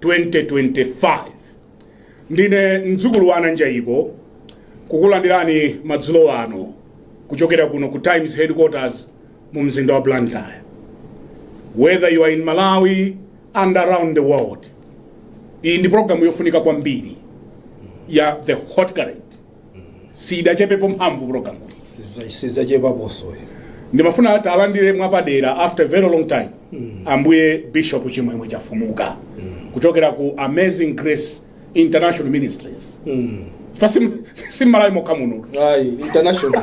2025 ndine mdzukulu wa Ananjaiko kukulandirani madzulo ano kuchokera kuno ku Times headquarters mu mzinda wa Blantyre whether you are in Malawi and around the world iyi ndi programu yofunika kwambiri ya the hot current siidachepepo mphamvu program sizachepaposo ndimafuna talandire mwapadera after a very long time ambuye bishop chimwemwe chafumuka kuchokera ku amazing grace international ministries fa si m'Malawi mokha muno ayi international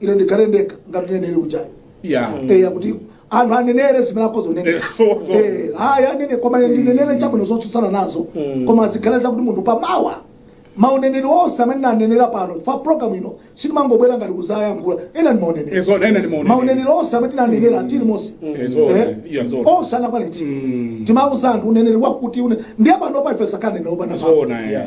ine ndikhale ndekha ngati uneneri ujayo Yeah. eya kuti anthu anenere zimene akhoza kunenera Eh, so- so- Eh, ayi anene koma ine ndinenere chabwino zotsutsana nazo koma zikhale zakuti munthu pamawa mauneneri onse amene tinanenera pano fa program ino sitimangobwera ngati kuzayankhula awa ndi mauneneri Eh, so- nene ndi mauneneri. mauneneri onse amene tinanenera tili muno Eh, so- Eh, yeah, so- onse anakwanitsidwa timauza anthu uneneri wakuti une ndiye pano palife sakanenera opanda mphamvu. Zona, yeah.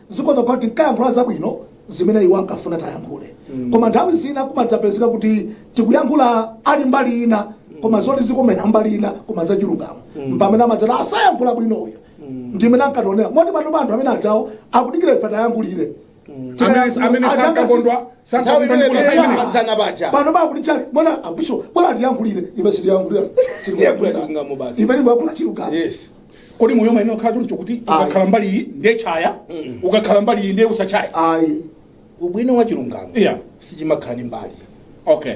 Zikhoza kukhala kuti tinkayankhula zabwino zimene iwo ankafuna tiyankhule koma nthawi zina kumadzapezeka kuti tikuyankhula ali mbali ina koma zoti zikomera mbali ina koma zachilungamo mpamene amadzati asayankhula bwino uyu ndimene ankationera moti panopa anthu amene ajawo akudikira ife tiyankhulire Amene- amene sankakondwa- sankakondwa ndi Nthawi imene Eya. asana paja. pano pakuti chali mona abisho bora tiyankhulire ife sitiyankhulira Tiyankhulira chilungamo basi. ife timayankhula chilungamo Yes. kodi moyo umayenera kukhala choncho kuti ukakhala mbali iyi ndiye chaya ukakhala mbali iyi ndiye usachaya ayi ubwino wa chilungamo Yeah. sichimakhala ndi mbali okay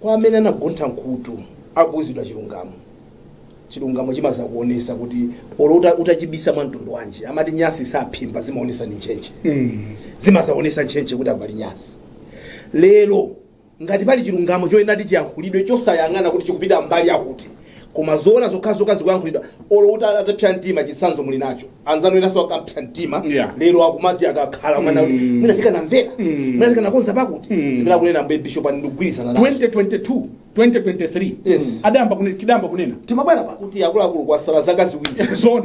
kwa amene anagontha mkhutu akuuzidwa chilungamo chilungamo chimazakuonesa kuti olo uta- utachibisa mwa mtundu wanji amati nyasi saphimba zimaonesa ndi ntchentche zimazaonesa ntchentche kuti apali nyasi lero Ngati pali chilungamo choyenera kuti chiyankhulidwe chosayang'ana kuti chikupita mbali yakuti koma zoona zokhazokha zikuyankhulidwa olo utapsa mtima chitsanzo muli nacho anzanu enaso akapsa mtima Yeah. lero akumati akakhala mwina kuti mwina tikanamvera mwina tikanakonza pakuti zimene akunena ambuye bishop apa ndikugwirizana nazo 2022 2023 Yes. tidayamba kunena tidayamba kunena timabwera pano kuti akuluakulu kwasala zaka ziwiri zoona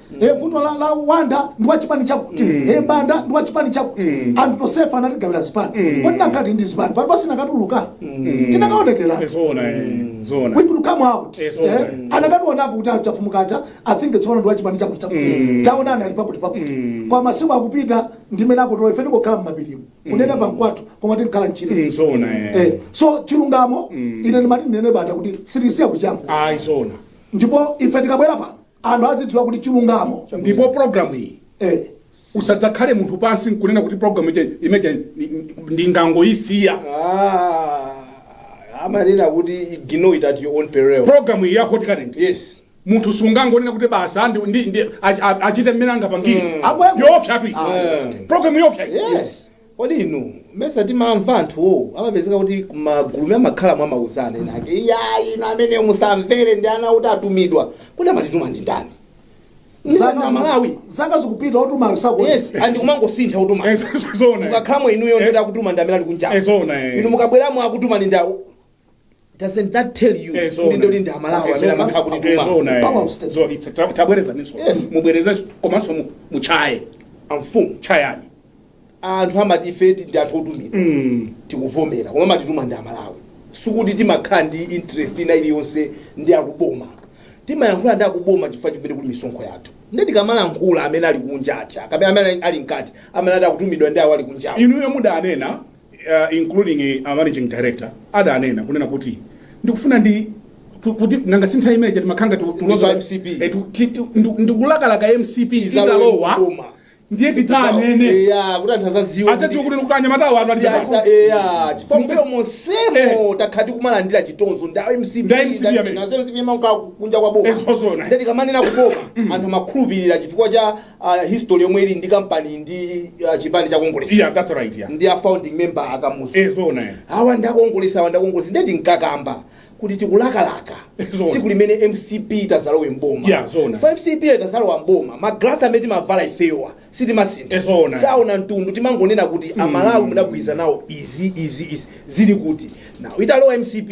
e vuto la, la Banda ndi wa chipani chakuti e banda ndi wa chipani chakuti anthu tonsefe anatigawira zipani kodi tikanakhala ndi zipani pano sitinakatuluka tinakaonekera Zona, eh, zona. we could come out Yes, okay. eh, akanationa kuti achafumukacha i think tsono ndi wachipani chakuti chakuti taonani ali pakuti pakuti kwa masiku akupita ndimene akutiona ife ndikokhala mmapirimu kunena pankwathu koma timakhala mchire Mm, Zona, eh. Eh, so chilungamo ine ndimati ndinene Banda kuti sitisiya kutchaya Ayi, zona. ndipo ife tikabwera pano Anthu azidziwa kuti chilungamo. Ndipo program iyi Eh. usadzakhale munthu pansi nkunena kuti program imene ija ni- ni- ndingangoyisiya Ah, amanena kuti ignore it at your own peril. program iyi ya hot current Yes. munthu sungangonena kuti basa ndi- ndi- ndi- ach- a- achite mmene angapangire Akweko. yopsatu iyi Ah, yes. program yopsa iyi Yes. Kodi inu mesa timamva anthuwo amapezeka kuti kumaguluku amakhala amauzana ena ake iyayi inu ameneyo musamvere ndi anthu oti atumidwa kodi amatituma ndi ndani Zaka ndani amalawi ziku- zaka zikupita otumayo yes sakuoneka and kumangosintha kutuma Eh, zo- zo- zoona, eh. mukakhalamo inuyo nde ati akutuma ndi amene ali Eh, zoona, eh. kunjawo inu mukabweramo akutuma ndi awo Doesn't that tell you Eh, so kuti ndo ndi amalawi amene so amakhala kuti eh, so una, eh. Power of state. So it's- ta- tabwerezaniso Yes. mubwerezenso komanso mu- muchaye amfumu chayani anthu amati ife ndi anthu otumidwa Mm. tikuvomera koma amatituma ndi amalawi sikuti timakhala ndi interest ina iliyonse ndi akuboma timayankhula ndi akuboma chifukwa chimene kuli misonkho yathu nde tikamalankhula amene ali kunja aja kapena amene ali mkati amene ati akutumidwa ndi awo ali kunjawo inuyo mudanena including a managing director adanena kunena kuti ndikufuna ndi ku- kuti nanga si nthawi imeneija timakhala ngati ndi tulozo pa MCP. Eh, tu- ti- tu- ndu- ndikulakalaka mcp italowa Boma. ndiye tidzanene Eya, kuti anthu azaziwa atadziwa kuti kuti anyamatawo anu Siyasa, atiaa eya, chifukwa mbuyo monsemo takhala tikumalandira chitonzo ndi a mcp Ndi a MCP amene. kunja kwa boma Eh zoona. nde tikamanena za boma anthu amakhulupirira chifukwa cha a history yomwe ili ndi kampani ndi ah, chipani cha kongelesi iya that's right ya ndi a founding member akamuzu eh zona ya awa ndi akongelesi awa ndi akongelesi nde tinkakamba kuti tikulakalaka Zona. tsiku limene mcp idzalowe mboma Yeah, zona. For mcp itazalowa mboma magrasi amene timavala ifewa sitimasintha Eh, zona. saona mtundu timangonena kuti amalawi mudagwirizana izi izi izi zili kuti now italowa mcp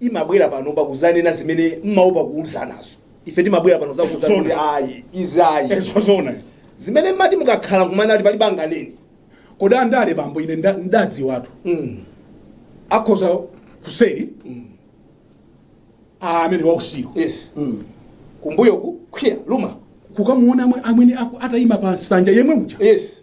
imabwera pano pa kuzanena zimene mmaopa kuuzanazo ife timabwera pano za kuuzana kuti ayi izi ayi eh zoona zimene mmati mukakhala kumanena ati palibe anganene kodi andale bambo ine nda- ndadziwatu mm. akhoza kuseri mm. amene wausiku yes mm. kumbuyoku kukwiya koma kukamuona amwe- amwene aku- atayima pa nsanja yemwe uja yes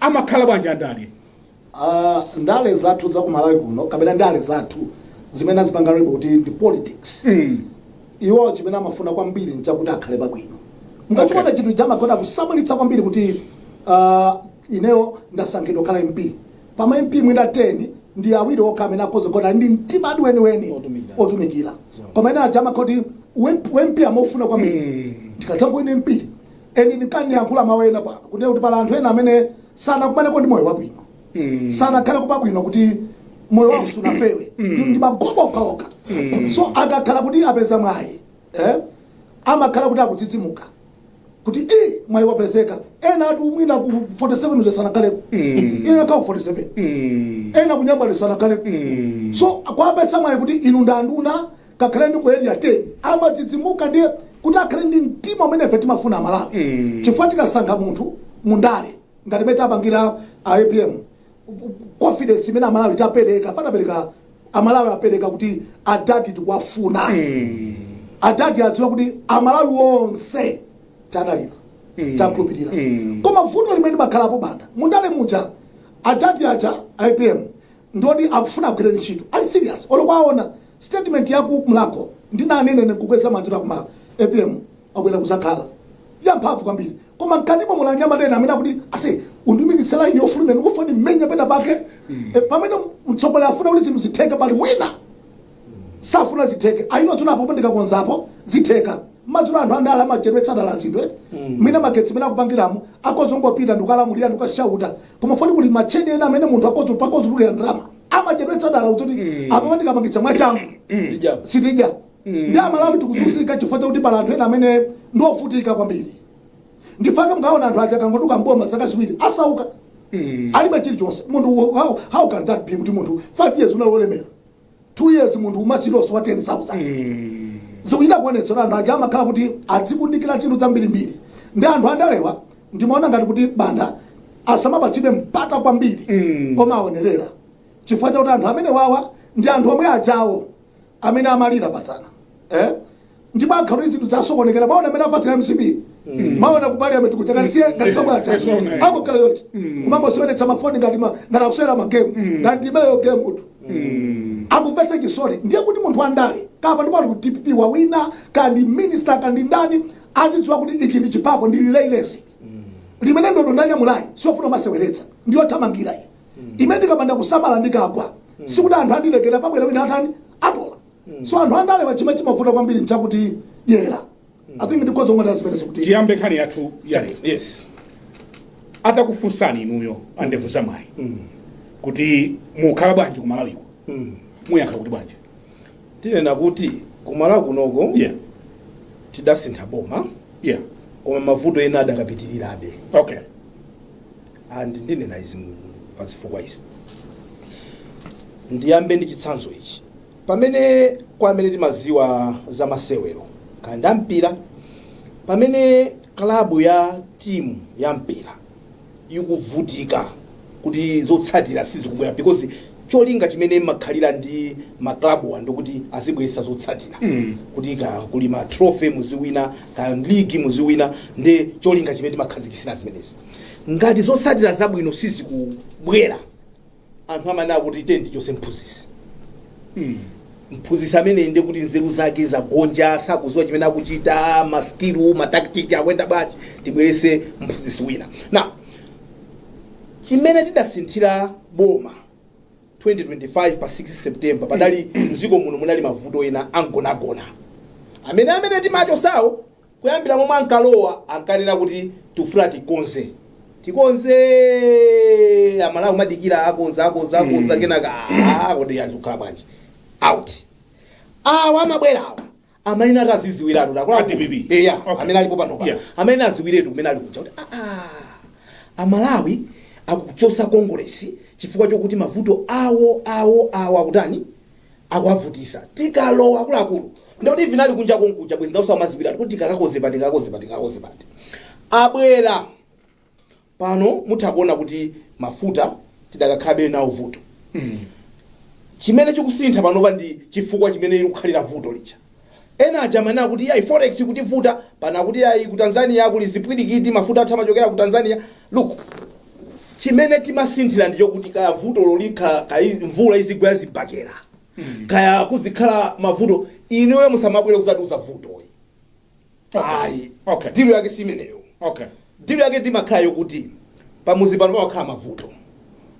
amakhala bwanji andale? Uh, ndale zathu za ku Malawi kuno kapena ndale zathu zimene azipanga label kuti ndi politics mm. iwo chimene amafuna kwambiri nchakuti akhale pabwino mukachiona okay. chinthu chamakonda kusamalitsa kwambiri kuti uh, ineyo ndasankhidwa kukhala mp pa ma mp mwina 10 ndi awiri okha amene akhoza kukhala ndi mtimadi weniweni otumikira koma ena aja amangoti u mp amafuna kwambiri mm. ndikadzangowina mp Eni nikayankhula mawu ena pano kunena kuti pali anthu ena amene sanakumaneko ndi moyo wabwino mm. sanakhala ku pabwino kuti moyo wawo sunafewe mm. ndi magobo okhaokha mm. so akakhala kuti apeza mwayi eh? amakhala kuti akudzidzimuka kuti eh, mwayi wapezeka ena atu mwina ku 47 uja sanakhaleko mm. ina nakhala ku 47 mm. ena kunyambani sanakhaleko mm. so akapeza mwayi kuti inu ndi a nduna ngakhale ndi ku area 10 amadzidzimuka ndiye kuti akhale ndi mtima umene ife timafuna amalawi Mm. chifukwa tikasankha munthu mundale ngati mmene tapangira a apm confidence imene amalawi tapereka patapereka amalawi apereka kuti adadi tikuwafuna Mm. adadi adziwa kuti amalawi onse tadalira Mm. takhulupirira Mm. koma vuto limene limakhalapo bwana mundale muja adadi aja apm ndi oti akufuna agwire ntchito ali serious olo mukaona statement ya ku mlakho ndinanena ine kukweza manja kuti koma apm wabwera kuzakhala zamphamvu kwambiri koma mkatimo muli anyamata ena amene akuti ase undumikitse laini yofulumira ndikufuna ndimenye pena pake Eh, pamene mtsogoleri afuna kuti zinthu zitheke pali wina safuna zitheke ayi mwaona apo ndikakonzapo zitheka mwachangu anthu andale amachedwetsa dala zinthu eti mina magetsi mmene akupangiramo akhoza kungopita ndikukalamulira ndikukashauta koma foni kuli matcheni ena amene munthu akhoza pakutulukira ndalama amachedwetsa dala kuti apo ndikapangitsa mwachangu Ndija. sitija nde amalawi tikuzunzika chifukwa chakuti pali anthu ena amene ndi ovuta kwambiri nchifukwa chake mukaona anthu aja akangotuluka mboma zaka ziwiri asauka alibe chilichonse munthu how, how can that be kuti munthu five years unali wolemera 2 years munthu ulibe chilichonse wa 10000 zikuchita kuonetsa kuti anthu aja amakhala kuti adzikundikira chinthu chambirimbiri ndi anthu andalewa ndimaona ngati kuti bwana asamapatsidwe mpata kwambiri Mm. koma aonerera chifukwa chakuti anthu amenewawa ndi anthu omwe ajawo amene amalira patsana eh? ndipo akhala zinthu zasokonekera mwaona mmene apangira mcp mwaona ku parliament kuja ngati siye ngati sobwacha Yes, mwaona, eh. akukhala yoti kumangosionetsa mafoni ngati ma- ngati akusewera magemu ngati imeneyo game utu akumvetsa chisoni ndiye kuti munthu wandale kaya ndipo ali ku dpp wawina kaya ndi minister kaya ndi ndani azidziwa kuti ichi ndi chipako ndi relay race limene ndodo ndanyamulayi siofuna kumaseweretsa ndiyothamangira iyi imene ndikapanda kusamala ndikagwa sikuti anthu andilekera pabwera wina atani atola so anthu andalewa chimwe chimavuta kwambiri nchakuti dyera i think ndikhoza ngati zimenezi kuti tiyambe nkhani yathu ya lero yes atakufunsani inuyo andevu za mayi kuti mukukhala bwanji ku malawiko muyankha kuti bwanji tinena kuti kumalawi kunoko yeah tidasintha boma yeah koma mavuto ena adakapitirirabe okay And ndinena izi pa zifukwa izi. Ndiyambe ndi chitsanzo ichi. Pamene kwa amene timaziwa za masewero kaya nda mpira, pamene club ya team ya mpira ikuvutika kuti zotsatira sizikubwera because cholinga chimene amakhalira ndi ma club wo ndikuti azibweretsa zotsatira mm. kuti ka kuli ma trophy muziwina ka league muziwina ndi cholinga chimene timakhazikisira zimenezi ngati zotsatira zabwino sizikubwera anthu amanena kuti tiyeni tichose mphunzitsi mphunzitsi ameneyi nde kuti nzeru zake zagonja sakuziwa chimene akuchita maskilu mataktiki akuyenda bwanji tibwerese mphunzitsi wina na chimene tidasinthira boma 2025 pa 16 september padali mdziko muno munali mavuto ena amgonagona amene amene timachosawo Kuyambira momwe ankalowa ankanena kuti tikufuna tikonze, tikonzee! Amalawi kumadikira akonza, akonza, akonza kenaka aah kodi izi zikhala bwanji? Out. Awa amabwera awa amene adaziziwiratu takula A DPP. eya Okay. amene alipo pano pa Yeah. amene aziwiratu kumene ali kuja kuti aah amalawi akuchosa kongolesi chifukwa chokuti mavuto awo awo awo akutani akuwavutisa tikalowa akuluakulu ndikuti vinali kunja konkuja bwezi ndausa amaziwiratu kuti tikakakonze pati tikakonze pati tikakonze pati abwera pano mutha kuona kuti mafuta tidakakhalabe nawo vuto chimene chikusintha panopa ndi chifukwa chimene likukhalira vuto lija Ena aja amanena kuti iyayi forex ikutivuta, pano akuti iyayi ku Tanzania kuli zipwirikiti, mafuta athu amachokera ku Tanzania. Look, chimene timasinthira ndi chokuti kaya vutolo likhala, kaya mvula izigwa kaya zibakera, kaya kuzikhala mavuto, inuyo musamabwere kuzatiuza vutoyi. ayi Okay. dilo yake si imeneyo okay dilo yake imakhala yokuti pamuzi pano pamakhala mavuto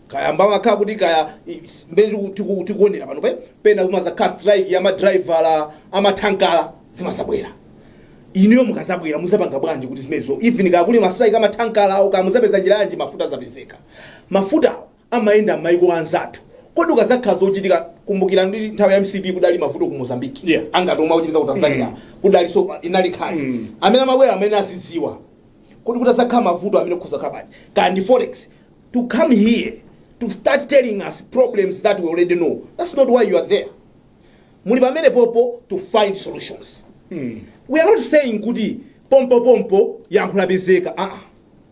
kaya mmakhala kuti kaya i- mmene tiku- tiku- tikuonera panopa pena kumazakhala strike ya madraivala amathankala zimazabwera inuyo mukazabwera muzapanga bwanji kuti zimenezo even kaya kuli mastrike amathankala awo kaya muzapeza njira yanji mafuta azapezeka mafutawo amayenda mmaiko anzathu kodi kukazakhala zochitika kumbukira ndi nthawi ya mcp kudali mavuto ku mozambique Yeah. ngati omwe akuchitika ku tanzania kudali so inali nkhani Mm. amene amabwera amene azidziwa kodi kutazakhala mavuto amenewa kuzakhala bwanji kaya ndi forex to come here to start telling us problems that we already know that's not why you are there muli pamenepopo to find solutions we are not saying kuti pompo pompo yankho lapezeka aa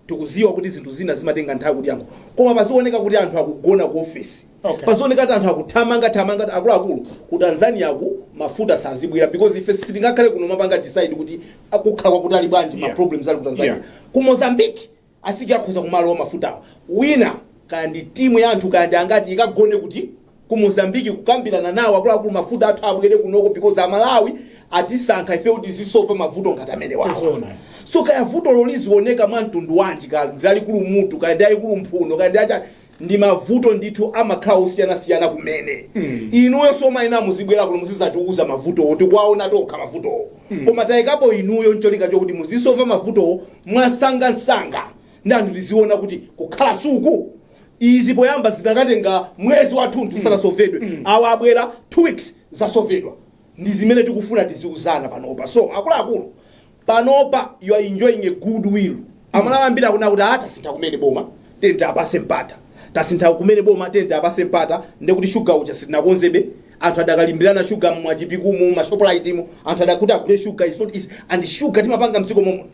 Tikudziwa kuti zinthu zina zimatenga nthawi kuti anthu koma pazioneka kuti anthu akugona ku office Okay. pazioneka kuti anthu akuthamanga thamanga kuti akuluakulu ku Tanzania ku mafuta sazibwera because ife sitingakhale kuno kumapanga decide kuti akukhala kutali bwanji ma Yeah. problems ali ku Tanzania Yeah. ku Mozambique afike akhoza kumalowa mafutawa wina kaya ndi timu ya anthu kaya ndi angati ikagone kuti ku Mozambique kukambirana nawo akuluakulu mafuta athu abwere kunoko because amalawi atisankha ife kuti tizisova mavuto ngati amene wawo Zoona. so kaya vutolo lizioneka mwa mtundu wanji kaya lalikulu mutu kaya ndi aikulu mphuno kaya ndi achani ndi mavuto ndithu amakhala osiyanasiyana kumene inuyo simumayenera muzibwera kuno muzizatiuza mavutowo tikuwaona tokha mavutowo koma takuyikanipo inuyo ncholinga chokuti muzisova mavutowo mwasangansanga ndi anthu tiziona kuti kukhala suku izi poyamba zinakatenga mwezi wathunthu zisanasovedwe awa abwera two weeks zasovedwa ndi zimene tikufuna tiziuzana panopa so akuluakulu panopa you are enjoying a good will amalawi ambiri akunena kuti ah tasintha kumene boma tiyeni tiwapase mpata tasintha kumene boma tiyeni tiwapase mpata ndekuti shuga uja sitinakonzebe anthu adakalimbirana shuga mwa Chipiku mu ma shoprite mu anthu adakuti agule shuga is not easy and shuga timapanga mdziko momwe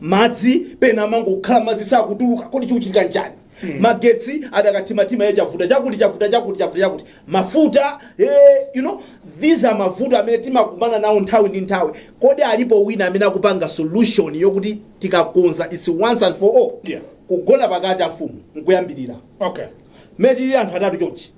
madzi pena amangokhala madzi sakutuluka kodi chikuchitika nchani magetsi adakathimathima ye chavuta chakuti chavuta chakuti chavuta chakuti mafuta eh, you know these are mavuto amene timakumana nawo nthawi ndi nthawi kodi alipo wina amene akupanga solution yokuti tikakonza its once and for all Yeah. kugona pakati amfumu nkuyambirira okay mmene tili anthu atatu chonchi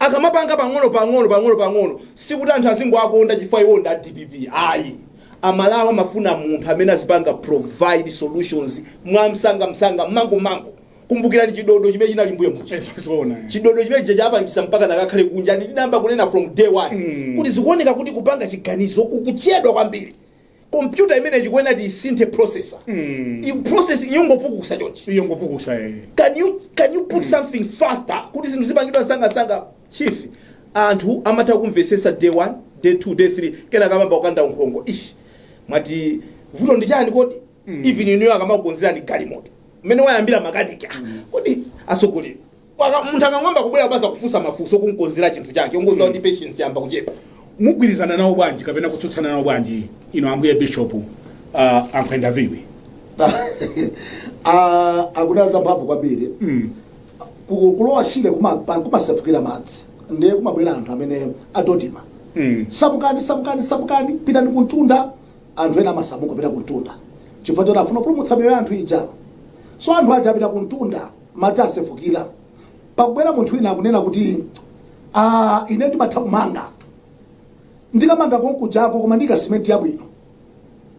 Akamapanga pang'ono pang'ono pang'ono pang'ono sikuti anthu azingowakonda chifukwa iwowo ndi a dpp ayi. Amalawi amafuna munthu amene azipanga provide solutions mwamsangamsanga, mmangummangu. Kumbukirani chidodo chimene chinali mbuyo muja. Eh, zoona, eh. Chidodo chimene chija chawapangisa mpakana akakhale kunja ndi chinayamba kunena from day one kuti zikuoneka kuti kupanga chiganizo kukuchedwa kwambiri. kompyuta imeneyi chikuyenera tiisinthe processor Iyo processor iyo yongopukusa chonchi iyo yongopukusa eh. can you can you put something faster kuti zinthu zipangidwe msangamsanga chief anthu amatha kumvesesa day 1 day 2 day 3 kenaka amayamba kukanda nkhongo ish mwati vuto ndi chani kodi even inuyo akamakukonzerani galimoto mmene wayambira makaniki ah, kodi atsogolera Paka- munthu akangoyamba kubwera kubaza kufunsa mafunso kunkonzera chinthu chake ungodziwa kuti patience yayamba kuchepa mugwirizana nawo bwanji kapena kutsutsana nawo bwanji inu ambuye bishop uh, ankhwenda viwi Ah, akuti azamphamvu kwambiri Ku- kulowa shire kuma- pa- kumasefukira madzi ndiye kumabwera anthu amene aDoDMA Mm. samukani samukani samukani pitani kuntunda anthu ena amasamuka kupita kuntunda chifukwa choti afuna kupulumutsa miyoyo ya anthu ija so anthu aja apita kuntunda madzi asefukira pakubwera munthu wina akunena kuti ah, ine ndimatha kumanga ndikamanga konkujako koma ndiika simenti yabwino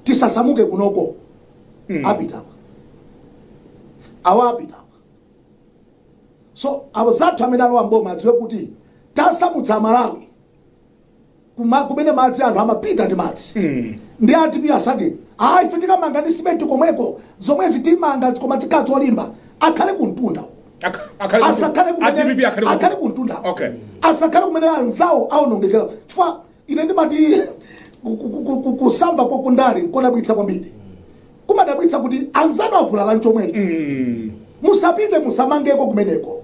tisasamuke kunoko Mm. apita apa awa apita apa so awo anzathu amene alowa mboma adziwe kuti tasamutsa amalawi kuma kumene madzi anthu amapita ndi madzi ndi a dp asati a ife tikamanga ndi simenti komweko zomwezi timanga koma zikhala zolimba akhale kumtunda uko Ak- akhale kuti- asakhale a DPP kumene akhale kuti- akhale kumtunda Okay. asakhale kumene anzawo aonongekera chifukwa ine ndimati ku- ku- ku- ku- kusamva kwa kundale nkodabwitsa kwambiri kumadabwitsa kuti anzanu avulala nchomwecho musapite musamangeko kumeneko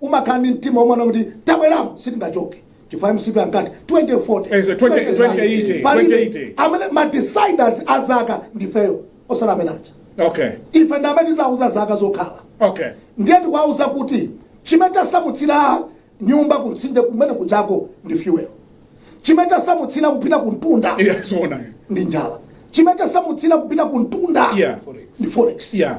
umakhala ndi mtima omanena kuti tabweramo sitingachoke chifukwa mcp ankati 2040 palibe amene ma deciders a zaka ndifeyo osati amene aja okay ife ndi amene tizauza zaka zokhala okay ndiye tikuwauza kuti chimene tasamutsira nyumba kumtsinje kumene kujako ndi fuel chimene tasamutsira kupita kuntunda yeah, so ndi njala chimene tasamutsira kupita kuntunda yeah. ndi forex yeah.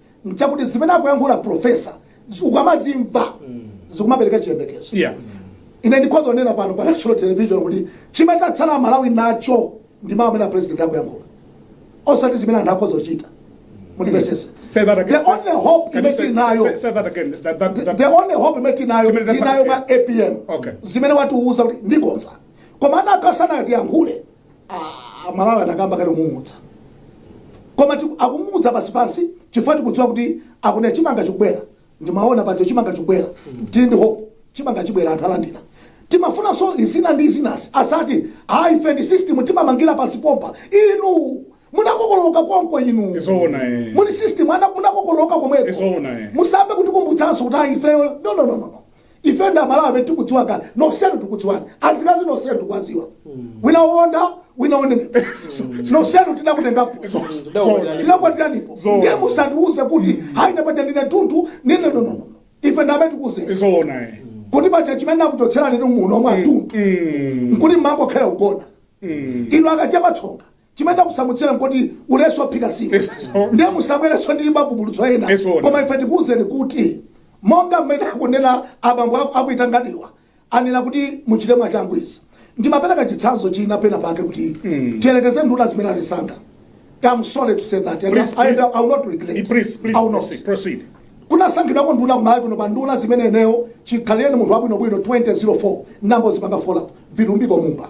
nchakuti zimene akuyankhula profesa zi- ukamazimva zikumapereka chiyembekezo Yeah. ine ndikhoza kunena pano pa national television kuti chimene tatsala malawi nacho ndi mawu amene apresident akuyankhula osati zimene anthu akhoza kuchita mundimvesese Say that again. the only hope Can you imene say- tinayo say- say that again. That- that- that- the only hope imene tinayo Chimene tinayo ma tatsala- apm Okay. zimene watiuza kuti ndikonza koma ana akasana tiyankhule a- a- malawi anayamba kale kung'ung'udza koma tiku- akung'ung'udza pansi pansi chifukwa tikudziwa kuti akunena chimanga chikubwera ndimaona pacho chimanga chikubwera tili ndi hope chimanga chibwera anthu alandira timafunanso izina ndi izinasi asati ayi ife ndi system timamangira pansi pompa inu munakokoloka konko inu Zoona, eh. muli system ana munakokoloka komweko Zoona, eh. musayambe kutikumbutsanso kuti ayi ifeyo no no no no no. ife ndi amalawi amene tikudziwa kale nonsenu tikudziwani azikazi nonsenu tikuwadziwa wina wonda wina wonenepa nonsenu tinakutengapo tinakwatiranipo Zoona. ndiye musandiuze kuti hayi napaja ndine tunthu ndine nonono ife ndi amene tikuuzeni zoona eh. kuti paja chimene akuchotserani ndi muno mwa tunthu nkuti mmangokhala ugona ino akachepa tsonga chimene takusamutsira nkuti ulesi ophika nsima ndiye musabwerenso ndi mavumbulutso ena Zoona. koma ife tikuwuzeni kuti monga mmene akunena abambo aku- akuitanganiwa anena kuti muchite mwachangu izi ndimapereka chitsanzo china pena pake kuti tiyerekeze nduna zimene azisankha I'm sorry to say that. And Please, I, please. I will not regret. Please, please I will not. proceed. proceed. kunasankhidwako nduna kumalawi kuno pa nduna zimene ineyo chikhalireni munthu wabwinobwino 2004 nambo zipanga follow vilumbiko mumba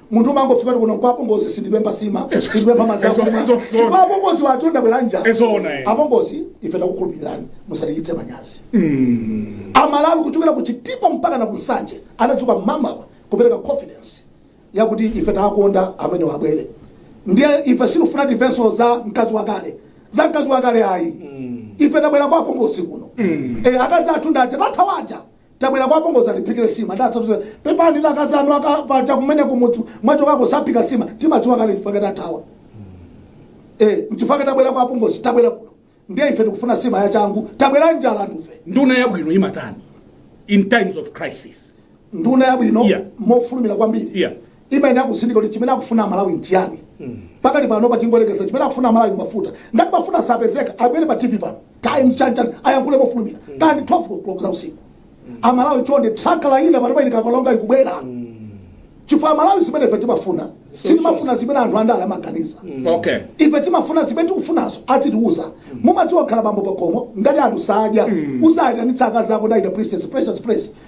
Munthu umangofika kuti kuno nkwa apongozi sindipempha sima Ezo- sindipempha madzi eso- akumwa eso- eso- chifukwa apongozi wathu ndabwera nja Ezoona, eh. apongozi ife takukhulupilirani musatichitse manyazi amalawi kuchokera ku Chitipa mpaka na ku Nsanje anadzuka mmamawa kupereka confidence yakuti ife tawakonda amene wabwere ndiye ife sitikufuna timvenso za mkazi wakale za mkazi wakale ayi ife tabwera kwa apongozi kuno Eh, akazi athu ndaja tathawaja Tabwera kwa apongozi atiphikire sima ndi zinthu zina. Pepani akazi anu akapanga kumene kumudzi mwachokako saphika sima. Timadziwa kale chifukwa chake tathawa. Eh, mchifukwa chake tabwera kwa apongozi, tabwera kuno. Ndiye ife tikufuna sima ya changu. Tabwera njala ndife. nduna yabwino imatani in times of crisis Nduna yabwino Yeah. mofulumira kwambiri. Yeah. imayenera kutsindika kuti chimene akufuna amalawi nchiyani pakali panopa tingoyerekeza chimene akufuna amalawi mafuta ngati mafuta sapezeka abwere pa tv pano Times chanichani ayankhule mofulumira kaya ndi 12 o'clock za usiku amalawi chonde tanker ina panopa ili ku Karonga ikubwera chifukwa amalawi zimene ife timafuna sitimafuna zimene anthu andale amaganiza okay ife timafuna zimene tikufunazo atitiuza mumadziwa khala bambo pakhomo ngati anthu sadya uzayitanitsa akazi ako ndi ana princess precious prince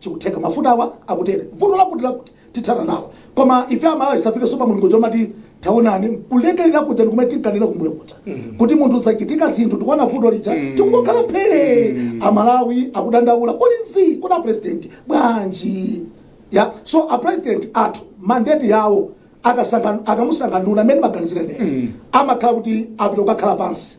chikutheka mafutawa akutere vuto lakuti lakuti tithana nalo koma ife amalawi tisafikenso pa mulingo womati taonani kulekerera kuja ndi kumene tinkanena kumbuyo kuja kuti munthu zachitika zinthu tikuona vuto lija tikungokhala phee amalawi akudandaula kodi nzi kodi apresident bwanji yeah so apresident athu mandate yawo akasangan- akamasankha nduna mmene ndimaganizira ndine amakhala kuti apita kukakhala pansi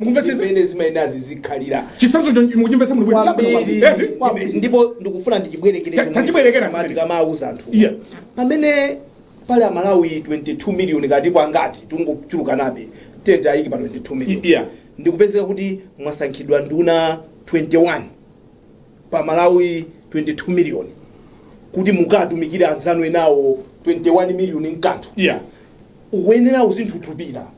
Mukumvetsetsa? zimene zimayendazi zikhalira chitsanzo chomwe mukuchimvetsa muno bwino kwambiri Eti? Kwambiri. ndipo ndikufuna ndichibwerekere Ta- chomwe tachibwerekera chimati kumene. kamauza anthu Yeah. pamene pali amalawi 22 miliyoni kati kwangati tungochulukanabe tingoiika pa 22 miliyoni Yeah. ndikupezeka kuti mwasankhidwa nduna 21 pa malawi 22 miliyoni kuti mukatumikire anzanu enawo 21 miliyoni mkanthu yeah uyenera uzinthunthumira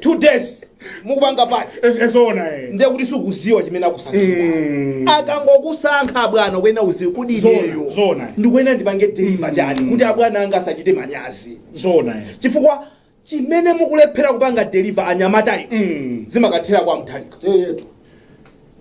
two days mukupanga pati Es- ezoona eh. ndiye kuti sukuziwa chimene akusankhira Mm. akangokusankha abwana kuyenera uziwe kuti Zona, ineyo zona. ndikuyenera ndipange deliver chani kuti abwana anga asachite manyazi zoona eh. chifukwa chimene mukulephera kupanga deliver anyamatayo Mm. zimakathera kwa Mutharika eyetu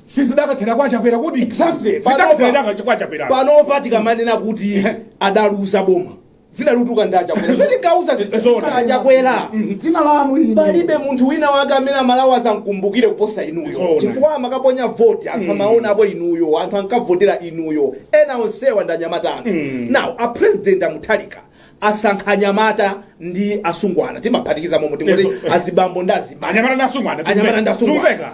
si zidakathera kwa Chakwera kodi Exactly. zidakathera kwa Chakwera panopa tikamanena kuti adaluza boma Dzina likutuluka ndi a Chakwera zoti tinkauza zikhala a Chakwera dzina lanu ili palibe munthu wina wake amene amalawi azamkumbukire kuposa inuyo Zoona. chifukwa amakaponya voti anthu amaona apo inuyo anthu ankavotera inuyo ena onsewa ndi anyamata anu now a president a Mutharika asankha anyamata ndi asungwana timaphatikiza momo tingoti Yes. azibambo ndi azimai anyamata ndasungwana Anyamata ndasungwana. zikuveka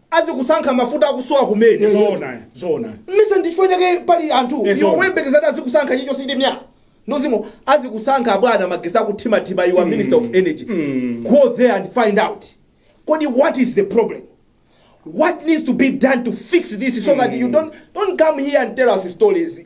azikusankha mafuta akusowa kumene Eh, zoona eh, zoona mise ndi chifukwa chake pali anthu Eh, iwo zoona. woyembekezera azikusankha chicho sindi mya ndozimo azikusankha abwana magesi akuthimathima you are minister of energy Mm. go there and find out kodi what is the problem what needs to be done to fix this so that you don't, don't come here and tell us stories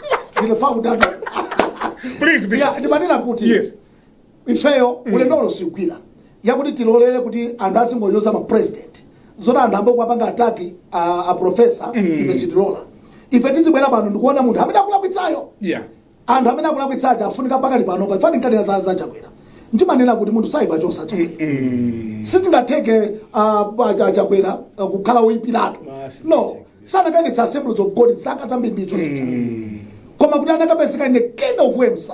Ndilo fa kudada. Please, Bishop. Yeah, ndimanena kuti. Yes. Ifeyo ulendo uno sigwira. Yakuti tilolere kuti anthu azingonyoza ma president. Zona anthu ayamba kwapanga attack a, a professor ife sitilola. Ife tizibwera pano ndikuona munthu amene akulakwitsayo. Yeah. anthu amene akulakwitsaja afunika pakali pano pa fani nkhani za za chakwera ndimanena kuti munthu saipa chonse chakwera sizingatheke ah, ah, cha- chakwera ah, kukhala woyipiratu Basi, no sanakakwanitsa assemblies of god zaka zambirimbiri zija koma kuti anakapezeka in a kind of way msa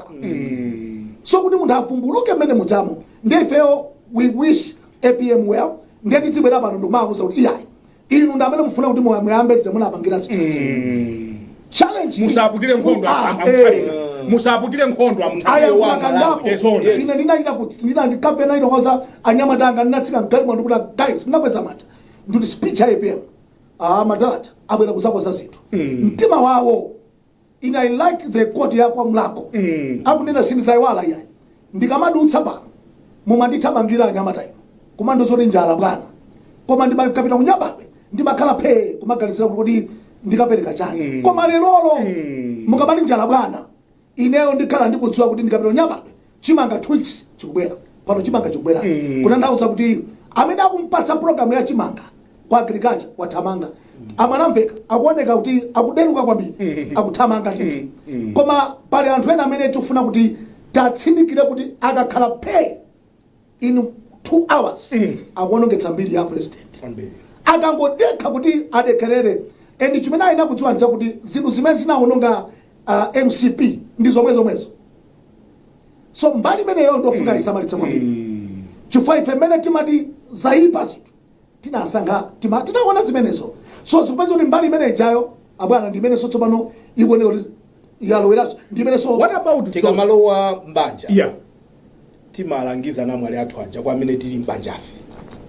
so kuti munthu avumbuluke mmene mujamo ndiye ifeyo we wish apm well ndiye tizibwera pano ndikumakuuza kuti iyayi inu ndi amene mufuna kuti muya- muyambe zija munapangira zitezi challenge iyi- musaputire nkhondo Ah, am- am- eh. musaputire nkhondo aya amtaiwa kunakangapo eh zoona ine ndinachita kuti ndinandikapena itokoza anyamata anga ndinatsika mgalimoto ndikuti guys ndinakweza manja ndikuti speech ya apm ah madala aja abwera kuzakonza zinthu mtima wawo ine i like the quote yakwa mulhako akunena sindizayiwala iyayi ndikamadutsa pano mumandithamangira anyamata inu kumandiuza zoti njala bwana koma ndikapita kunyambadwe ndimakhala phee kumaganizira kuti kodi ndikapereka chani koma lerolo mukamati njala bwana ineyo ndikhala ndikudziwa kuti ndikapita kunyambadwe chimanga two weeks chikubwera pano chimanga chikubwera Mm. kutanthauza kuti amene akumpatsa programu ya chimanga kwa agriculture wathamanga a mwanamvekha akuoneka kuti akuderuka kwambiri Mm. akuthamanga ndithu Mm. Mm. koma pali anthu ena amene tikufuna kuti tatsindikire kuti akakhala phe in two hours mm. akuonongetsa mbiri ya president akangodekha kuti adekerere and chimene ayenera kudziwa nchakuti zinthu zimene zinaononga uh, mcp ndi zomwe zomwezo so mbali imeneyo ndofuna isamalitse kwambiri mm. chifukwa ife mmene timati zayipa zinthu tinasankha tima tinaona zimenezo so zikupeza kuti mbali imene ijayo abwana ndi imenenso tsopano ikuoneka kuti yaloweranso ndi imenenso what about tikamalowa mbanja yeah timalangiza anamwali athu aja kwa amene tili m'banjafe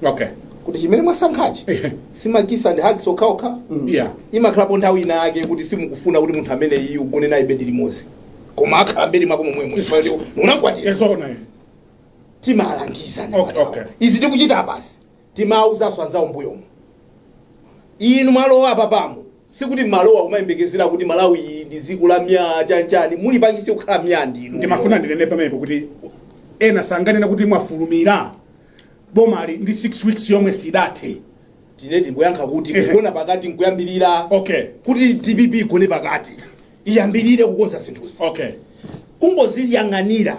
okay kuti chimene mwasankhachi Ehe. si ma kiss ndi hugs okhaokha Yeah. imakhalapo nthawi ina yake kuti simukufuna kuti munthu ameneyi ugone naye bedi limodzi koma akhala mbedi mwako momwemo unakwatira eh zoona eh. timalangiza Okay, okay. okay. izi tikuchita basi timawuzanso anzawo mbuyomo inu mwalowa apa pano Sikuti mumalowa kumayembekezera kuti Malawi iyi ndi dziko la myaa chani chani mulipangitse kukhala myaa ndinu. ndimafuna ndinene pamenepo kuti ena sanganena kuti mwafulumira bomali ndi 6 weeks yomwe sidathe tinene tingoyankha kuti Ehe. kugona pakati nkuyambirira okay kuti dpp igone pakati iyambirire kukonza zinthuzi okay kumaziyang'anira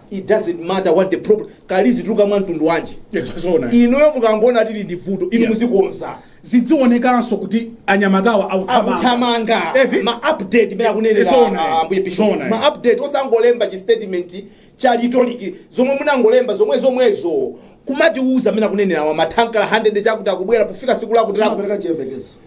it doesn't matter what the problem kaya lizitulukira mwa mtundu wanji Yes, zoona. inuyo mukangoona tili ndi vuto inu Yeah. muzikonza zidzionekanso kuti anyamatawa akuthamanga akuthamanga Eti? ma update mmene akunenera Zoona. ah, ambuye bishop Zoona. ma update osangolemba chi statement cha rhetoric zomwe munangolemba zomwezomwezo kumatiuza mmene akunenerawa mathankala 100 chakuti akubwera pofika siku lakuti lakuti Zimapereka chiyembekezo.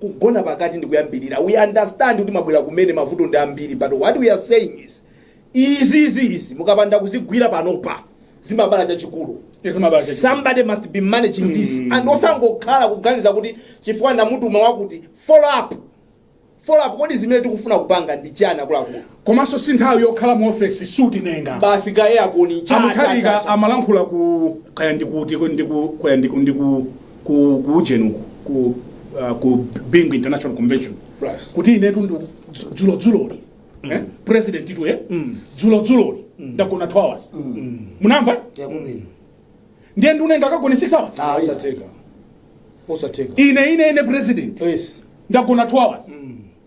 kugona pakati ndikuyambirira we understand kuti mwabwera kumene mavuto ndi ambiri but what we are saying is izizi izi mukapanda kuzigwira panopa zimabala chachikulu Zimabala chachikulu. somebody must be managing this and osangokhala kuganiza kuti chifukwa ndamutuma wakuti follow up follow up kodi zimene tikufuna kupanga ndi chani akuluakulu Komanso si nthawi yokhala mu office suit ndenga basi ka aircon a Mutharika amalankhula ku kaya ndikuti ndiku kaya ndiku ndiku ku ku ujeni uku ku uh, ku Bingu International Convention Plus. kuti inetu dzulo dzuloli eh presidentitu eh dzulo dzuloli ndagona 2 hours munamva Yakubini. ndiye ndunena akagone 6 hours Ah, yeah. Osatheka. Osatheka. ine ine ine president Please. ndagona 2 hours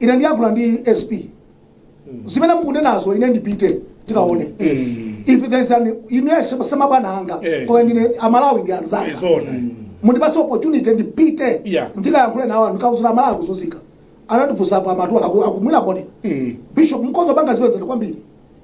ine ndiyankhula ndi sp zimene mukunenazo ine ndipite ndikaone if there is an ine si mabwana anga Eh. koma ine aMalawi ndi anzanga Zoona. mundipatse opportunity ndipite Yeah. ndikayankhule nawo ndikawauze aMalawi akuzunzika anandifunsapo a Matola akumwera kodi bishop Mkomzowabanga zipezani kwambiri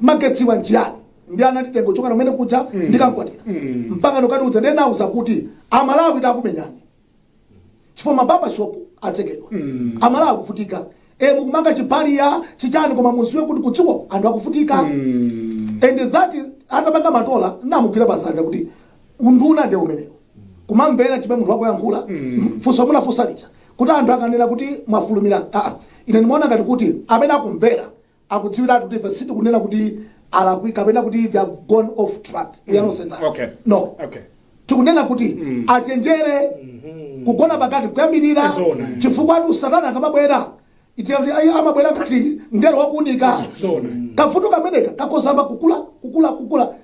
magetsiwa nchiyani ndi anatitenga kuchokera kumeneko kuja ndikankawatira mpaka ndukatiuza ndenauza kuti amalawi akunyanyala chifukwa ma barber shop atsekedwa amalawi akuvutika e mukumanga chipaliya chichani koma mudziwe kuti kudziko anthu akuvutika and that is- atapanga Matola ndamugwira chanza kuti unduna nde umenewo kumamvera chimene munthu wako akuyankhula funso munafunsa lija kuti anthu akanena kuti mwafulumira aa ine ndimaona ngati kuti amene akumvera akudziwiratu kuti ife sitikunena kuti alakwitsa kapena kuti they have gone off track we are not saying that Okay. no Okay. tikunena kuti achenjere kugona pakati nkuyambirira Zoona. chifukwa ati Satana akamabwera iti kuti ayi amabwera ngati mngelo wakuunika Zoona. kavuto kameneka kakudzayamba kukula kukula kukula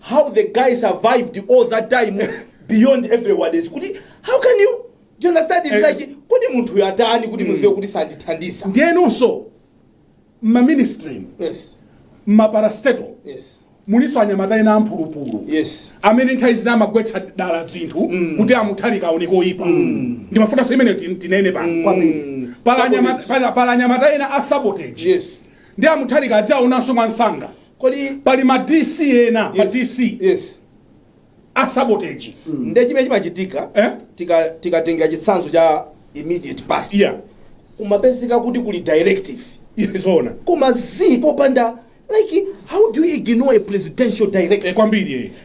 how the guy survived all that time beyond everyone is kuti how can you do you understand it's like kodi munthuyu atani kuti muziwe kuti sandithandiza ndiyenonso mmaministry yes mmaparastatal yes mulinso anyamata ena amphulupulu yes amene nthawi zina amagwetsa dala dzinthu kuti amutharika aoneke oyipa ndimafunanso imene tin- tinene pano Kwambiri. Pali anyama- pali- pali anyamata ena a sabotage yes ndi amutharika adzaonanso mwansanga kodi pali ma dc ena ma dc yes a sabotage nde chimene chimachitika Eh? tika- tikatengera chitsanzo cha immediate past yeah kumapezeka kuti kuli directive yeah zoona koma zii popanda like how do you ignore a presidential directive eh kwambiri eh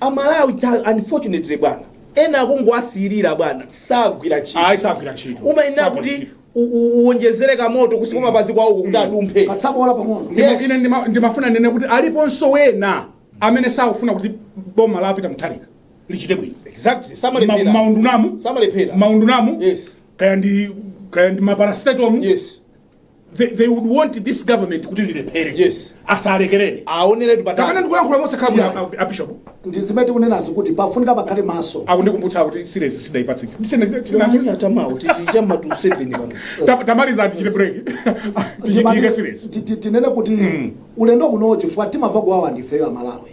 Amalawi ta unfortunately bwana ena akungowasiilira bwana sagwira ntchito. Ayi sagwira ntchito. Umayenera Sagwira kuti ntchito. u- u- uwonjezere kamoto kunsi kwa mapazi kwawo kuti adumphe. katsabola pang'ono Ndima- Yes. ine ndima- ndimafuna ndinene kuti aliponso wena amene sakufuna kuti boma la peter mutharika lichite bwino Exactly. Ma- Samalephera. maundunamu Samalephera. maundunamu Yes. kaya ndi kaya ndi maparastatalmu Yes. they, they would want this government kuti lilephere Yes. asalekerere aoneretu patali ndikulankhula mosakhala bwino Yeah. a- a bishop ndi zimene tikunenazi kuti pafunika pakhale maso akundikumbutsa kuti sirezi sidaipatse Ta- tamaliza tichite break tichitike sirezi Ti- ti- tinene kuti ulendo uno chifukwa timamva kuwawa ndifeyo amalawi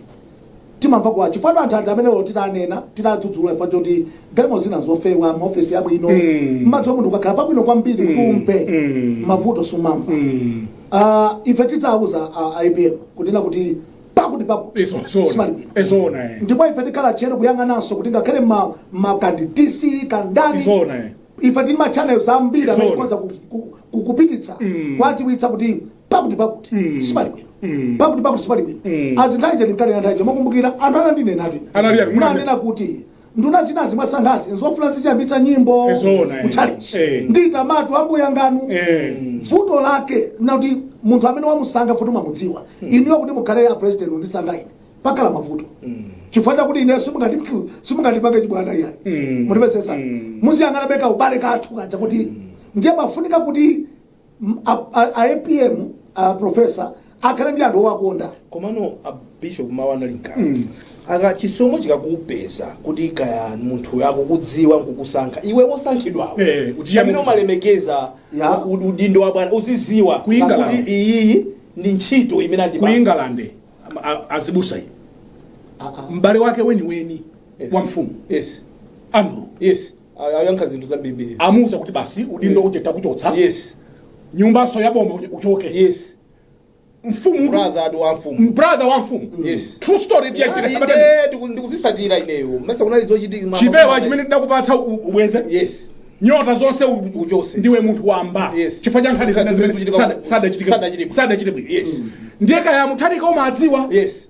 Timamva kuwawa chifukwa anthu aja amene olo titanena, titadzudzula chifukwa choti galimoto zina nzofewa, maofesi abwino, Mm. mmadziwa munthu ukakhala pabwino kwambiri kuti Mm. umve Mm. mavuto sumamva. Mm. Ah, ife tidzawuza a a APM kunena kuti pakuti pakuti Izo- zona. sipali bwino. Eh zoona, eh. ndipo ife tikhala tcheru kuyang'ananso kuti ngakhale ma- ma kaya ndi dc kaya ndani Zoona, eh. ife tili ma channels ambiri amene Zoona. tikhoza ku- ku- ku- kupititsa Mm. kuwadziwitsa kuti pakuti pakuti Mm. sipali bwino Mm. pakuti pakuti sipali bwino Mm. azinthaje ndinkanena nthawi ija mukukumbukira anthu anandinena ati Anali ati, mwana- nanena kuti nduna zinazi mwasankhazi nzofuna zidziyambitsa nyimbo Eh, zoona, eh. kutchalitchi Eh. nditamatu ambuye nganu Eh. vuto lake nlakuti munthu amene wamusankha futi mwamudziwa inuyo kuti mukhale a president ndisankha ine pakhala mavuto chifukwa chakuti ine simungati- simungandipange chibwana iyayi Mm. mutipesesa Mm. muziyang'anabe kaubale kathu kaja kuti ndiye pafunika kuti M- a- a- a apm a profesa akhale ndi anthu owakonda komano a bishop mawu anali mkati Mm. aka chisomo chikakupeza kuti kaya munthu akukudziwa nkukusankha iwe wosankhidwawo Eh, kuti amene yamu- umalemekeza Ya. u- udindo wa bwana uziziwa Ku England. kuti iyiyi ndi ntchito imene ku andipanga england a- a- azibusa iyi Ah, ah. m'bale wake weniweni Yes. wa mfumu yes andrew yes A- ayankha zinthu zambirimbiri amuuza kuti basi udindo uje takuchotsa yes nyumbanso ya boma uje uchoke yes mfumu brother wa mfumu m'brother wa mfumu Yes. true story byagira sabata Eh, ndiku- ndikuzitsatira ineyo mesa kunali zochitika chipewa chimene ndakupatsa u- ubweze yes nyota zonse u- Uchotse. ndiwe munthu wamba Yes. chifukwa cha nkhani zina zimene zimene zikuchitika sada- ku- sadachitike- sadachitike. sadachite bwino Yes. ndiye kaya mutharika umadziwa yes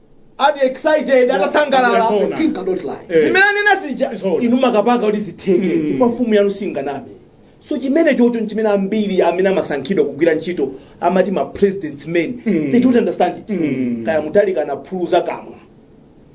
ati excited atasangalala Yes, sir. The king cannot lie. Eh. zimene anena zija Zoona. inu makapanga kuti zitheke Mm. chifukwa mfumu yanu singaname so chimene chocho nchimene ambiri amene amasankhidwa kugwira ntchito amati ma president's men Mm. they don't understand it Mm. kaya Mutharika anaphuluza kamwa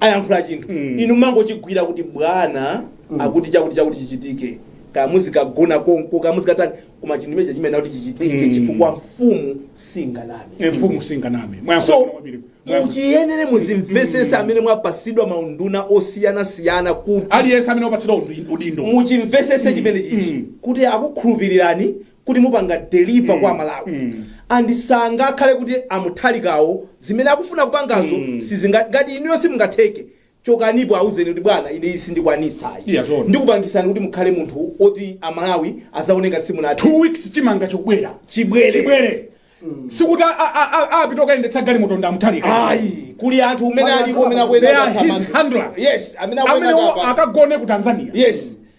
ayankhula chinthu Mm. inu mangochigwira kuti bwana akuti chakuti chakuti chichitike kaya muzikagona konko kaya muzikatani koma chinthu chimene chimayenera kuti chichitike chifukwa mfumu singaname Eh, mfumu singaname so mwayankha kwambiri Mwayankho- muyenera muzimvesese amene mwapasidwa maunduna osiyanasiyana kuti aliyense amene wapatsidwa undi- udindo muchimvesese chimenechichi mm. kuti akukhulupirirani kuti mupanga deliver kwa aMalawi mm. and sangakhale kuti a Mutharikawo zimene akufuna kupangazo mm. sizinga- ngati inuyo simungatheke chokanipo auzeni kuti bwana ine izi sindikwanitsa ayi Yeah, zoona. ndikupangisani kuti mukhale munthu oti amalawi azaona ngati simunati two weeks chimanga chikubwera Chibwere. chibwere sikuti a- a- a- a- apite okayendetsa galimoto ndi a Mutharika ayi kuli anthu amene Wala aliko amene anthu they are his handlers. yes amene amene akuyenda atamanga akagone ku tanzania yes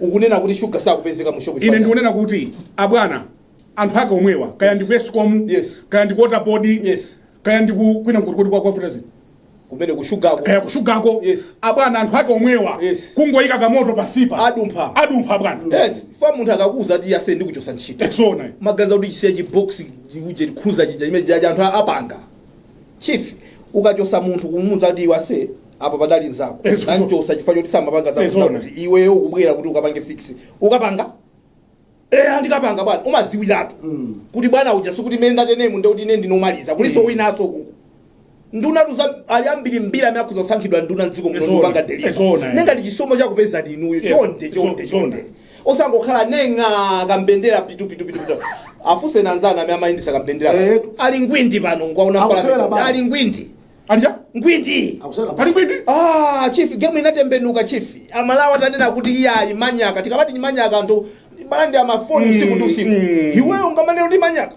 Ukunena kuti shuga sakupezeka mu shop chifukwa Ine chani? ndikunena kuti abwana anthu ake omwewa kaya ndi ku Escom, Yes. kaya ndi ku water board, Yes. kaya ndi ku kwina kuti kuti kwa kwa Fertilizer, Kumene ku shugako. kaya ku shugako. Yes. Abwana anthu ake omwewa Yes. kungoyika kamoto pasipa. Adumpha. Adumpha abwana. Yes, chifukwa munthu akakuuza kuti ase ndikuchosa ntchito. Eh zoona. Maganiza kuti ndichisiya chi box chi cruiser chija chimene chija anthu apanga. chief ukachosa munthu kumuuza kuti iwe ase apa padali nzako Eh, ndanchosa chifukwa choti samapanga Eh, zoona. zakuti iweyo ukubwera kuti ukapange fix ukapanga eh andikapanga bwana umaziwiratu Mm. kuti bwana uja sikuti mmene ndateremu ndekuti ine ndinomaliza kuliso Mm. winaso kukhala nduna 'cause ali ambiri mbiri amene akhoza kusankhidwa nduna mdziko muno Ee zoona, ndikupanga ee zoona, deliver eh. nde ngati chisomo chakupezani inuyo Yes, chonde so- chonde chonde. chonde Osangokhala neng'a kambendera pitu pitu pitu pitu. Afunseni anzanu amene amayendetsa kambendera. Eetu. Ali ngwindi pano ndikuwaona Akusewera mpira. bawo. Ali ngwindi. Alija? Ngwindi. Akusewera Pali bawo. ngwindi? Ah, chief game inatembenuka chief. Amalawi atanena kuti iyayi manyaka. Tikamati ni manyaka anthu akulanda mafoni usiku ndi usiku. mm. Iweyo ungamanena kuti manyaka.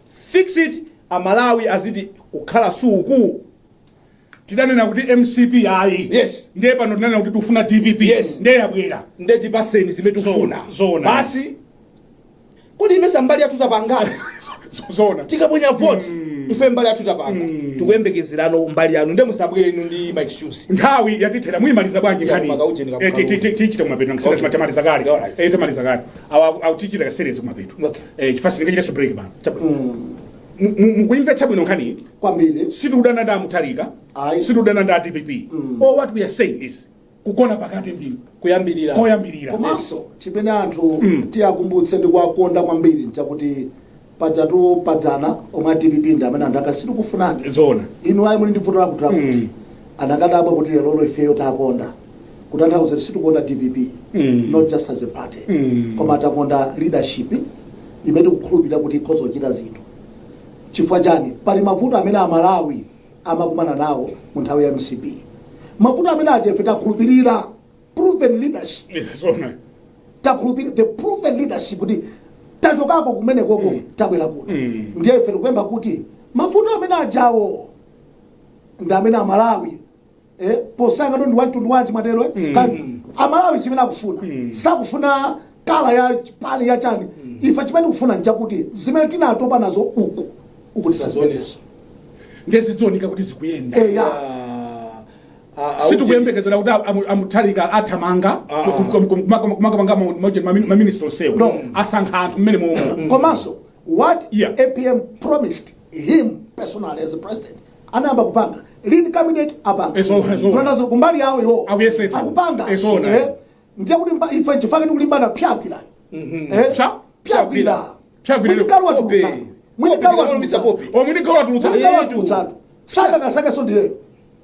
Fix it a Malawi aziti kukhala suku. Tidanena kuti mcp ayi. Yes. Ndiye pano tinanena kuti tufuna dpp. Yes. Ndiye yabwera. Ndiye tipaseni zimene tufuna. Zoona, zoona. Basi kodi ndimesa mbali yathu tapanga Zoona. tikaponya vote ife mbali yathu tapanga tikuyembekezerano mbali yanu nde musabwere inu ndi ma excuse Nthawi yatithera muyimaliza bwanji Ya, nkhani. mpaka ujeni kabuka Eh, ti- ti- ti- Tichita kumapeto ngisira Okay. tamaliza kale. Alright. Eh tamaliza kale. awa aku- aku tichita ka series kumapeto Okay. Eh, chifukwa sindingachitenso break pano Chabwino. Mu- mu- mukuimvetsa bwino nkhani kwambiri sitikudana ndi amutharika Ayi. sitikudana ndi adpp all what we are saying is kugona pakati ndi kuyambirira koyambirira komanso chimene anthu tiwakumbutse ndi kuwakonda kwambiri nchakuti pajatu padzana omwe a dpp ndi amene anthu ankati sitikufunani zoona inu ayi muli ndi vuto lakuti lakuti Mm. anakadabwa kuti lero lolo ifeyo takonda kutanthauza kuti sitikukonda dpp Mm. not just as a party Mm. koma takonda leadership imene tikukhulupirira kuti ikhoza kuchita zinthu chifukwa chani pali mavuto amene amalawi amakumana nawo mu nthawi ya mcp mavuto amene aja ife takhulupirira proven leadership Yeah, zoona. takhulupirira the proven leadership kuti tachokako kumene koko tabwera kuno Mm. ndiye ife tikupempha kuti mavuto amene ajawo ndi amene amalawi eh, posayang'ana ndi wamtundu wanji mwatero eh? Mm. Kani, amalawi chimene akufuna Mm. sakufuna kala ya party ya chani ife chimene tikufuna nchakuti zimene tinatopa nazo uku uku tisazipezenso Ndiye zidzooneka kuti zikuyenda. eya Ah, sitikuyembekezera kuti amutharika athamanga kumakapanga maminista onsewo asankha anthu mmene momwe mm. komanso what yeah. apm promised him personally as a president anayamba kupanga lean cabinet apanga tunatazira kumbali yawo iwo akupanga eh, ndiye kuti ife chifukwa chake tikulimbana pyakwira mhm. eh, pyakwira mwinikalwa tulutsa mwinikalwa tulutsa mwinikalwa tulutsa sadakasakaso ndiyeyo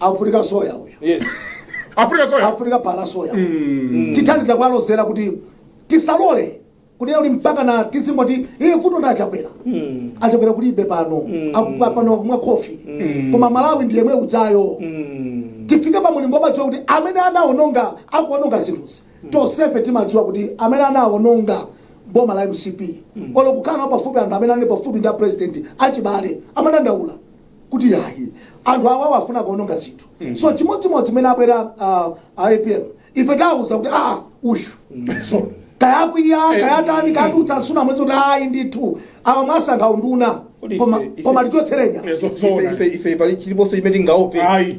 afunika soya uyu yes afunika soya afunika phala soya tithandiza kuwalozera kuti tisalole kunena kuti mpakana tizingoti iye vuto ndi achakwera achakwera kulibe pano Aku- pano akumwa khofi koma malawi ndi yemwe ujayo tifike pa mulingo womadziwa kuti amene anaononga akuononga zinthuzi tonsefe timadziwa kuti amene anaononga boma la mcp olo kukhala pafupi anthu amene ali pafupi ndi apresident achibale amadandaula kuti yayi anthu awawa afuna kuononga zinthu so chimodzimodzi mmene abwera ah, a apm ife tawuza kuti aa uyu so kaya akwiya kaya atani katutsa nsuna mwezi kuti ayi ndithu awa mwasankha unduna Kodi koma ife- ife- koma tichotsereni Ife- ife- ife pali chiliponso chimene tingaope Ayi.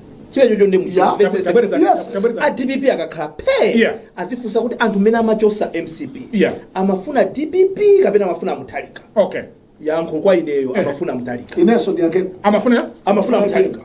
chimenecho ndi Yeah. Tabwereza- Yes. tabwereza. adpp akakhala phe Yeah. adzifunse kuti anthu mmene amachotsa mcp Yeah. amafuna dpp kapena amafuna muthalika okay yankho kwa ineyo amafuna muthalika inenso ndiyake amafuna amafuna muthalika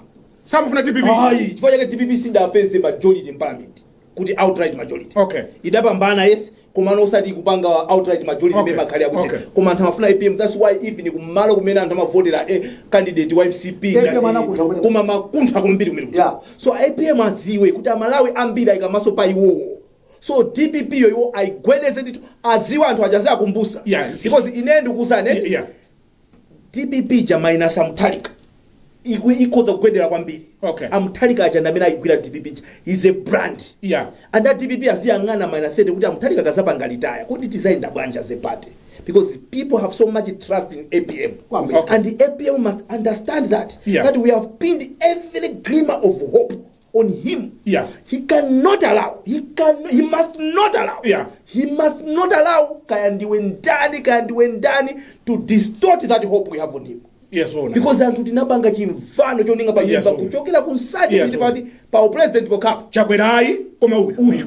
samafuna dpp ayi chifukwa chake dpp sidapeze majority in parliament kuti outright majority Okay. idapambana yes komano osati kupanga outright majority Okay. okay. makhali akuti Okay. koma anthu amafuna apm that's why even kumalo kumene anthu amavotera eh, candidate wa mcp APM ngati- anakuntha kumene. koma makuntha kwambiri kumene kuja. Yeah. so apm adziwe kuti amalawi ambiri ayika maso pa iwowo so dpp yo iwo ayigwedeze ndithu adziwe anthu aja azawakumbutsa Yeah. because ine ndikuwuzani Yeah, yeah. dpp ija minus amuthalika ikhoza kugwedera kwambiri Okay. amuthalika aja ndi amene ayigwira dpp ija is a brand Yeah. and a dpp aziyang'ana mu 2030 kuti amuthalika akazapanga retire kodi tizayenda bwanji as a party because people have so much trust in apm Kwambiri. and the apm must understand that Yeah. that we have pinned every glimmer of hope on him. Yeah. He cannot allow. He can he must not allow. Yeah. He must not allow kaya ndiwe ndani kaya ndiwe ndani to distort that hope we have on him. Yes, ona. Because anthu tinapanga chimvano cholinga pa Yes, nyumba ona. kuchokera ku nsanje Yes, kuti ona. pa upresident pokapo. chakwerayi koma uyu. Uyu.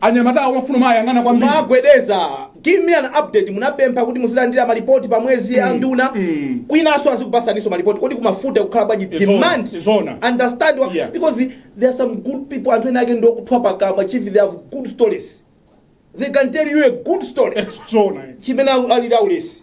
Anyamata awo amafuna kumawayang'ana kwambiri. Kumagwedeza. Give me an update munapempha kuti muzilandira malipoti pa mwezi mm. a nduna mm. kwinaso azikupatsaninso malipoti kodi kumafuta kukukhala bwanji demand zona. understand what, yeah. because there are some good people anthu ena ake ndokuthwa pakamwa chief they have good stories they can tell you a good story chimene alira ulesi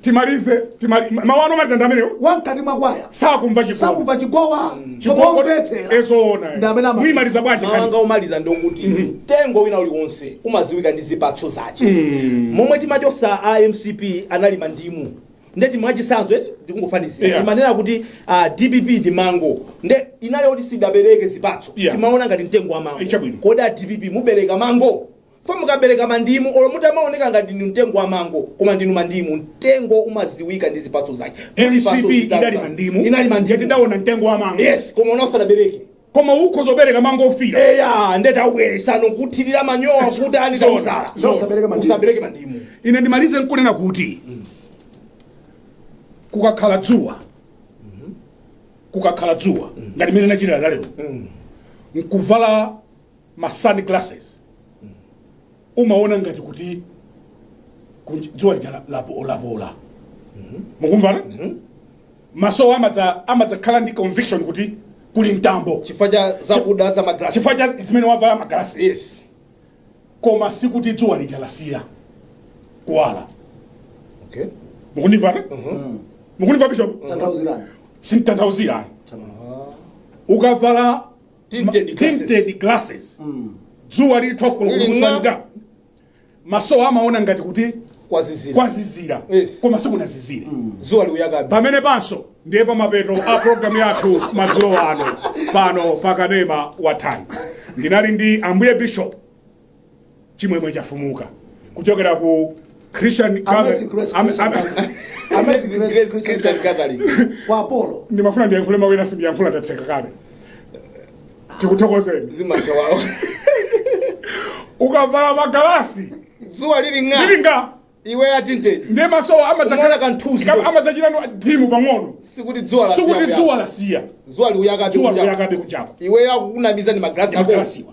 timalize timali mawu anu omaliza ndi amenewo wamkati mwa kwaya sakumva chikondi sakumva chigoba chikomvetsera eh zoona Ndi amene ama- muyimaliza bwanji mawu anga kani omaliza ndokuti mtengo wina uliwonse umadziwika ndi zipatso zache momwe timachotsa a mcp anali mandimu ndeti mwachitsanzo eti ndikungofanizira Yeah. imanena kuti ah, dpp ndi mango nde inali kuti sidabereke zipatso Yeah. timaona ngati mtengo wa mango Ichabwino. kodi a dpp mubereka mango For mukabereka mandimu olo mutamaoneka ngati ndinu mtengo wa mango koma ndinu mandimu mtengo umadziwika ndi zipatso zake Muli patso Mcp zitatu idali zanu. mandimu inali mandimu eti tidaona mtengo wa mango yes koma ona usanabereke koma ukhoza kubereka mango ofiira eya ndeta ubweretsano kuthirira manyowa kuti ani Zona. tausala Zona. Usabereke mandimu. usabereke mandimu ine ndimalize nkunena kuti kukakhala dzuwa kukakhala dzuwa ngati mene nachitira lalero nkuvala ma sunglasses umaona ngati kuti kunj- dzuwa lija la- lapo- lapola mukumvana maso amadzakhala ndi conviction kuti kuli mtambo chifukwa cha zakuda za magalasi chifukwa cha zimene wavala magalasi yes koma sikuti dzuwa lija lasiya kuwala okay mukundimvana mukundimva bishop tanthauzirani sintanthauzira ayi ukavala Tinted ma- glasses. tinted glasses dzuwa lili 12 koloko lili mwa- kuswa mtengo maso amaona ngati kuti kwazizira kwazizira Yes. koma sikunazizire dzuwa likuyakabe pamene panso ndiye pamapeto a programu yathu madzulo ano pano pakanema wa Times ndinali ndi ambuye bishop chimwemwe chafumuka kuchokera ku christian Amazing Grace Am- Christian am- Gathering. Amazing Grace Grace Christian Christian Gathering. Gathering. Kwa apo. ndimafuna ndiyankhule mawu ena sindiyankhula ndatseka kale tikuthokozeni zimatha wawo ukavala magalasi dzuwa lili ng'a lilinga iwe a tinted ndiye maso umaona kamthunzi. amadzachita dim pang'ono sikuti dzuwa la sikuti siyakuya. dzuwa lasiya dzuwa likuyakatu dzuwa kuja. likuyakabe kunjaku iwe akukunamiza ndi magalasi ako magalasiwa